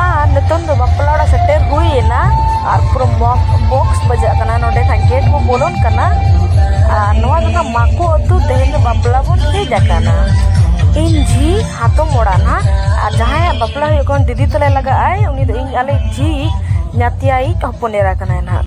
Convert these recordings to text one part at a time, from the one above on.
ᱟᱨ ᱱᱤᱛᱚᱝ ᱫᱚ ᱵᱟᱯᱞᱟ ᱚᱲᱟᱜ ᱥᱮᱴᱮᱨ ᱦᱩᱭ ᱮᱱᱟ ᱟᱨ ᱯᱩᱨᱟᱹ ᱵᱚᱠᱥ ᱵᱟᱡᱟᱜ ᱠᱟᱱᱟ ᱱᱚᱰᱮ ᱠᱷᱟᱱ ᱜᱮᱴ ᱠᱚ ᱵᱚᱞᱚᱱ ᱠᱟᱱᱟ ᱟᱨ ᱱᱚᱣᱟ ᱫᱚ ᱱᱟᱜ ᱢᱟᱠᱚ ᱟᱹᱛᱩ ᱛᱮᱦᱮᱧ ᱫᱚ ᱵᱟᱯᱞᱟ ᱵᱚᱱ ᱦᱮᱡ ᱟᱠᱟᱱᱟ ᱤᱧ ᱡᱷᱤ ᱦᱟᱛᱚᱢ ᱚᱲᱟᱜ ᱱᱟᱜ ᱟᱨ ᱡᱟᱦᱟᱸᱭᱟᱜ ᱵᱟᱯᱞᱟ ᱦᱩᱭᱩᱜ ᱠᱟᱱ ᱫᱤᱫᱤ ᱛᱟᱞᱮ ᱞᱟᱜᱟᱜ ᱟᱭ ᱩᱱᱤ ᱫᱚ ᱤᱧ ᱟᱞᱮ ᱡᱷᱤ ᱧᱟᱛᱤᱭᱟᱭᱤᱡ ᱦᱚᱯᱚᱱ ᱮᱨᱟ ᱠᱟᱱᱟᱭ ᱱᱟᱜ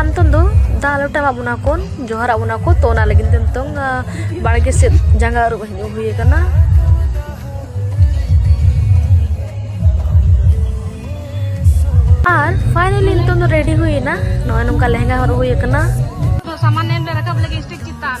ᱟᱢᱛᱚᱱ ᱫᱚ ᱫᱟ ᱞᱚᱴᱟ ᱢᱟ ᱵᱚᱱᱟ ᱠᱚᱱ ᱡᱚᱦᱟᱨ ᱟᱵᱚᱱᱟ ᱠᱚ ᱛᱚ ᱚᱱᱟ ᱞᱟᱹᱜᱤᱫ ᱛᱮ ᱱᱤᱛᱚᱝ ᱵᱟᱲᱜᱮ ᱥᱮᱫ ᱡᱟᱸᱜᱟ ᱟᱹᱨᱩᱵ ᱦᱤᱡᱩᱜ ᱦᱩᱭ ᱟᱠᱟᱱᱟ ᱟᱨ ᱯᱷᱟᱭᱱᱟᱞᱤ ᱱᱤᱛᱚᱝ ᱫᱚ ᱨᱮᱰᱤ ᱦᱩᱭᱮᱱᱟ ᱱᱚᱜᱼᱚᱭ ᱱᱚᱝᱠᱟ ᱞᱮᱦᱮᱝᱜᱟ ᱦᱚᱨᱚᱜ ᱦᱩᱭ ᱟᱠᱟᱱᱟ ᱥᱟᱢᱟᱱ ᱮᱢ ᱨᱟᱠᱟᱵ ᱞᱟᱹᱜᱤᱫ ᱥᱴᱮᱡᱽ ᱪᱮᱛᱟᱱ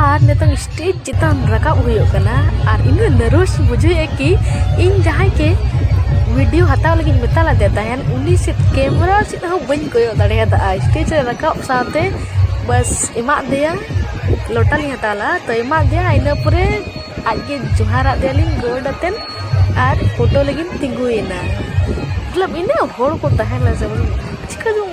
ᱟᱨ ᱱᱤᱛᱚᱝ ᱥᱴᱮᱡᱽ ᱪᱮᱛᱟᱱ ᱨᱟᱠᱟᱵ ᱦᱩᱭᱩᱜ ᱠᱟᱱᱟ ᱟᱨ ᱤᱧ ᱱᱟᱨᱚᱥ ᱵᱩᱡᱷᱟᱹᱣᱮᱫᱼᱟ ᱠᱤ ᱤᱧ ᱡᱟᱦᱟᱸᱭ ᱜᱮ ᱵᱷᱤᱰᱤᱭᱳ ᱦᱟᱛᱟᱣ ᱞᱟᱹᱜᱤᱫ ᱢᱮᱛᱟ ᱞᱮᱫᱮ ᱛᱟᱦᱮᱱ ᱩᱱᱤ ᱥᱮᱫ ᱠᱮᱢᱮᱨᱟ ᱥᱮᱫ ᱦᱚᱸ ᱵᱟᱹᱧ ᱠᱚᱭᱚᱜ ᱫᱟᱲᱮᱭᱟᱫᱟ ᱥᱴᱮᱡᱽ ᱨᱮ ᱨᱟᱠᱟᱵ ᱥᱟᱶᱛᱮ ᱵᱟᱥ ᱮᱢᱟᱜ ᱫᱮᱭᱟ ᱞᱚᱴᱟ ᱞᱤᱧ ᱦᱟᱛᱟᱣ ᱞᱮᱫᱟ ᱛᱚ ᱮᱢᱟᱜ ᱫᱮᱭᱟ ᱤᱱᱟᱹ ᱯᱚᱨᱮ ᱟᱡ ᱜᱮ ᱡᱚᱦᱟᱨᱟᱫ ᱫᱮᱭᱟᱞᱤᱧ ᱜᱚᱰ ᱟᱛᱮᱱ ᱟᱨ ᱯᱷᱳᱴᱳ ᱞᱟᱹᱜᱤᱫ ᱛᱤᱸᱜᱩᱭᱮᱱᱟ ᱢᱚᱛᱞᱚᱵ ᱤᱱᱟᱹᱜ ᱦᱚᱲ ᱠᱚ ᱛᱟᱦᱮᱸ ᱞᱮᱱᱟ ᱥᱮ ᱪᱤᱠᱟᱹ ᱪᱚᱝ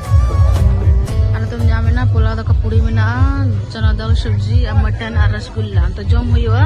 ᱟᱞᱮ ᱫᱚ ᱧᱟᱢ ᱮᱱᱟ ᱯᱳᱞᱟᱣ ᱫᱟᱠᱟ ᱯᱩᱲᱤ ᱢᱮᱱᱟᱜᱼᱟ ᱪᱟᱱᱟ ᱫᱟᱞ ᱥᱚᱵᱽᱡᱤ ᱟᱨ ᱢᱚᱴᱚᱱ ᱟᱨ ᱨᱚᱥᱜᱩᱞᱞᱟ ᱛᱚ ᱡᱚᱢ ᱦᱩᱭᱩᱜᱼᱟ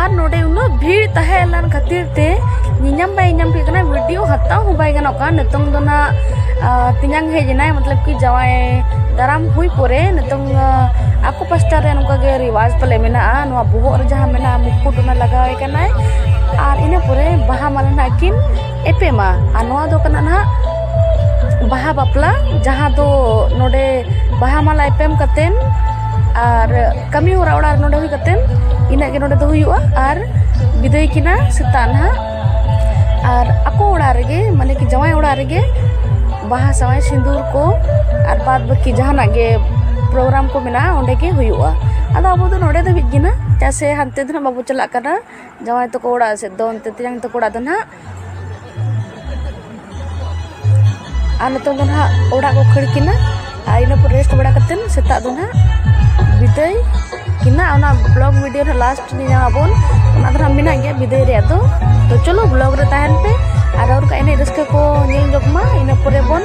ᱟᱨ ᱱᱚᱰᱮ ᱩᱱᱟᱹᱜ ᱵᱷᱤᱲ ᱛᱟᱦᱮᱸ ᱞᱮᱱ ᱠᱷᱟᱹᱛᱤᱨ ᱛᱮ ᱧᱮᱧᱟᱢ ᱵᱟᱭ ᱧᱟᱢ ᱦᱩᱭᱩᱜ ᱠᱟᱱᱟ ᱵᱷᱤᱰᱤᱭᱳ ᱦᱟᱛᱟᱣ ᱦᱚᱸ ᱵᱟᱭ ᱜᱟᱱᱚᱜ ᱠᱟᱱᱟ ᱱᱤᱛᱚᱝ ᱫᱚ ᱱᱟᱜ ᱛᱮᱧᱟᱝ ᱦᱮᱡ ᱮᱱᱟᱭ ᱢᱚᱛᱞᱚᱵ ᱠᱤ ᱡᱟᱶᱟᱭ ᱫᱟᱨᱟᱢ ᱦᱩᱭ ᱯᱚᱨᱮ ᱱᱤᱛᱚᱝ ᱟᱠᱚ ᱯᱟᱥᱴᱟ ᱨᱮ ᱱᱚᱝᱠᱟ ᱜᱮ ᱨᱮᱣᱟᱡᱽ ᱯᱟᱞᱮ ᱢᱮᱱᱟᱜᱼᱟ ᱱᱚᱣᱟ ᱵᱚᱦᱚᱜ ᱨᱮ ᱡᱟᱦᱟᱸ ᱢᱮᱱᱟᱜᱼᱟ ᱢᱩᱠᱩᱴ ᱚᱱᱟ ᱞᱟᱜᱟᱣᱟᱭ ᱠᱟᱱᱟᱭ ᱟᱨ ᱤᱱᱟᱹ ᱯᱚᱨᱮ ᱵᱟᱦᱟ ᱢᱟᱞᱟ ᱱᱟᱜ ᱠᱤᱱ ᱮᱯᱮᱢᱟ ᱟᱨ ᱱᱚᱣᱟ ᱫᱚ ᱠᱟᱱᱟ ᱱᱟᱦᱟᱜ ᱵᱟᱦᱟ ᱵᱟᱯᱞᱟ ᱡᱟᱦᱟᱸ ᱫᱚ ᱱᱚᱰᱮ ᱵᱟᱦᱟ ᱢᱟᱞᱟ ᱮᱯᱮᱢ ᱠᱟᱛᱮ ᱟᱨ ᱠᱟᱹᱢᱤ ᱦᱚᱨᱟ ᱚᱲᱟᱜ ᱨᱮ ᱱᱚᱰᱮ ᱦᱩᱭ ᱠᱟᱛᱮ ᱤᱱᱟᱹᱜ ᱜᱮ ᱱᱚᱰᱮ ᱫᱚ ᱦᱩᱭᱩᱜᱼᱟ ᱟᱨ ᱵᱤᱫᱟᱹᱭ ᱠᱤᱱᱟ ᱥᱮᱛᱟᱜ ᱱᱟᱦᱟᱜ ᱟᱨ ᱟᱠᱚ ᱚᱲᱟᱜ ᱨᱮᱜᱮ ᱢᱟᱱᱮ ᱠᱤ ᱡᱟᱶᱟᱭ ᱚᱲᱟᱜ ᱨᱮᱜᱮ ᱵᱟᱦᱟ ᱥᱟᱶᱟᱭ ᱥᱤᱸᱫᱩᱨ ᱠᱚ ᱟᱨ ᱵᱟᱫ ᱵᱟᱹᱠᱤ ᱡᱟᱦᱟᱱᱟᱜ ᱜᱮ ᱯᱨᱳᱜᱨᱟᱢ ᱠᱚ ᱢᱮᱱᱟᱜᱼᱟ ᱚᱸᱰᱮ ᱜᱮ ᱦᱩᱭᱩᱜᱼᱟ ᱟᱫᱚ ᱟᱵᱚ ᱫᱚ ᱱᱚᱰᱮ ᱫᱷᱟᱹᱵᱤᱡ ᱜᱮ ᱱᱟᱦᱟᱜ ᱪᱮᱫᱟᱜ ᱥᱮ ᱦᱟᱱᱛᱮ ᱫᱚ ᱱᱟᱦᱟᱜ ᱵᱟᱵᱚ ᱪᱟᱞᱟᱜ ᱠᱟᱱᱟ ᱡᱟᱶᱟᱭ ᱛᱟᱠᱚ ᱚᱲᱟᱜ ᱥᱮᱫ ᱫᱚ ᱚᱱᱛᱮ ᱛᱮᱭᱟᱝ ᱛᱟᱠᱚ ᱚᱲᱟᱜ ᱫᱚ ᱱᱟᱦᱟᱜ ᱟᱨ ᱱᱤᱛᱚᱝ ᱫᱚ ᱱᱟᱦᱟᱜ ᱚᱲᱟᱜ ᱠᱚ ᱠᱷᱟᱹᱲ ᱠᱤᱱᱟ ᱟᱨ ᱤᱱᱟᱹ ᱯᱚᱨ ᱨᱮᱥᱴ ᱵᱟᱲᱟ ᱠᱟᱛᱮᱫ ᱥᱮᱛᱟᱜ ᱫᱚ ᱱᱟᱦᱟᱜ ᱵᱤᱫᱟᱹᱭ ᱠᱤᱱᱟ ᱚᱱᱟ ᱵᱞᱚᱜ ᱵᱷᱤᱰᱤᱭᱳ ᱨᱮ ᱞᱟᱥᱴ ᱧᱟᱢᱟᱵᱚᱱ ᱚᱱᱟ ᱫᱚ ᱱᱟᱦᱟᱜ ᱢᱮᱱᱟᱜ ᱜᱮᱭᱟ ᱵᱤᱫᱟᱹᱭ ᱨᱮᱭᱟᱜ ᱫᱚ ᱛᱚ ᱪᱚᱞᱚ ᱵᱞᱚᱜ ᱨᱮ ᱛᱟᱦᱮᱱ ᱯᱮ ᱟᱨ ᱨᱚᱲ ᱠᱟ ᱮᱱᱮᱡ ᱨᱟᱹᱥᱠᱟᱹ ᱠᱚ ᱧᱮᱞ ᱧᱚᱜ ᱢᱟ ᱤᱱᱟᱹ ᱯᱚᱨᱮ ᱵᱚᱱ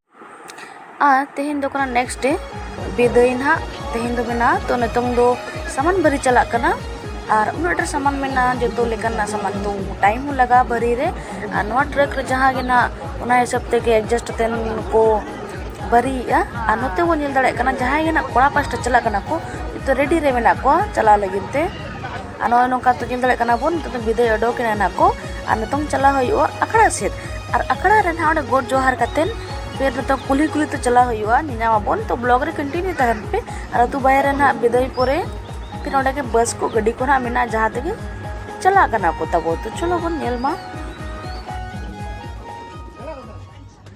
ᱟᱨ ᱛᱮᱦᱮᱧ ᱫᱚ ᱠᱟᱱᱟ ᱱᱮᱠᱥᱴ ᱰᱮ ᱵᱤᱫᱟᱹᱭ ᱱᱟᱜ ᱛᱮᱦᱮᱧ ᱫᱚ ᱢᱮᱱᱟᱜᱼᱟ ᱛᱚ ᱱᱤᱛᱚᱝ ᱫᱚ ᱥᱟᱢᱟᱱ ᱵᱟᱹᱨᱤ ᱪᱟᱞᱟᱜ ᱠᱟᱱᱟ ᱟᱨ ᱩᱱᱟᱹᱜ ᱰᱷᱮᱨ ᱥᱟᱢᱟᱱ ᱢᱮᱱᱟᱜᱼᱟ ᱡᱚᱛᱚ ᱞᱮᱠᱟᱱᱟᱜ ᱥᱟᱢᱟᱱ ᱫᱚ ᱴᱟᱭᱤᱢ ᱦᱚᱸ ᱞᱟᱜᱟᱜᱼᱟ ᱵᱟᱹᱨᱤ ᱨᱮ ᱟᱨ ᱱᱚᱣᱟ ᱴᱨᱟᱠ ᱨᱮ ᱡᱟᱦᱟᱸ ᱜᱮ ᱱᱟᱜ ᱚᱱᱟ ᱦᱤᱥᱟᱹᱵ ᱛᱮᱜᱮ ᱮᱰᱡᱟᱥᱴ ᱠᱟᱛᱮᱱ ᱠᱚ ᱵᱟᱹᱨᱤᱭᱮᱜᱼᱟ ᱟᱨ ᱱᱚᱛᱮ ᱵᱚᱱ ᱧᱮᱞ ᱫᱟᱲᱮᱭᱟᱜ ᱠᱟᱱᱟ ᱡᱟᱦᱟᱸᱭ ᱜᱮ ᱱᱟᱜ ᱠᱚᱲᱟ ᱯᱟᱥᱴᱟ ᱪᱟᱞᱟᱜ ᱠᱟᱱᱟ ᱠᱚ ᱡᱚᱛᱚ ᱨᱮᱰᱤ ᱨᱮ ᱢᱮᱱᱟᱜ ᱠᱚᱣᱟ ᱪᱟᱞᱟᱣ ᱞᱟᱹᱜᱤᱫ ᱛᱮ ᱟᱨ ᱱᱚᱜᱼᱚᱭ ᱱᱚᱝᱠᱟ ᱛᱚ ᱧᱮᱞ ᱫᱟᱲᱮᱭᱟᱜ ᱠᱟᱱᱟ ᱵᱚᱱ ᱱᱤᱛᱚᱜ ᱫᱚ ᱵᱤᱫᱟᱹᱭ ᱚᱰᱚᱠᱮᱱᱟ ᱱᱟᱜ ᱠᱚ ᱟᱨ ᱱᱤᱛᱚᱝ ᱪᱟᱞᱟᱣ ᱦᱩᱭᱩᱜᱼᱟ ᱟᱠᱷᱲᱟ ᱥᱮᱫ ᱟᱨ ᱟᱠᱷᱲᱟ ᱨᱮ ᱱᱟᱜ ᱚᱸᱰᱮ ᱜᱚᱰ ᱡᱚᱦᱟᱨ ᱠᱟᱛᱮᱫ ᱯᱷᱤᱨ ᱱᱤᱛᱚᱜ ᱠᱩᱞᱦᱤ ᱠᱩᱞᱦᱤ ᱛᱮ ᱪᱟᱞᱟᱣ ᱦᱩᱭᱩᱜᱼᱟ ᱧᱮᱧᱟᱢ ᱟᱵᱚᱱ ᱛᱚ ᱵᱞᱚᱜᱽ ᱨᱮ ᱠᱚᱱᱴᱤᱱᱤᱭᱩ ᱛᱟᱦᱮᱱ ᱯᱮ ᱟᱨ ᱟᱛᱳ ᱵᱟᱦᱮᱨ ᱨᱮ ᱱᱟᱜ ᱵᱤᱫᱟᱹᱭ ᱯᱚᱨᱮ ᱯᱷᱤᱨ ᱚᱸᱰᱮ ᱜᱮ ᱵᱟᱥ ᱠᱚ ᱜᱟᱹᱰᱤ ᱠᱚ ᱱᱟᱜ ᱢᱮᱱᱟᱜᱼᱟ ᱡᱟᱦᱟᱸ ᱛᱮᱜᱮ ᱪᱟᱞᱟᱜ ᱠᱟᱱᱟ ᱠᱚ ᱛᱟᱵᱚ ᱛᱚ ᱪᱚᱞᱚ ᱵᱚᱱ ᱧᱮᱞ ᱢᱟ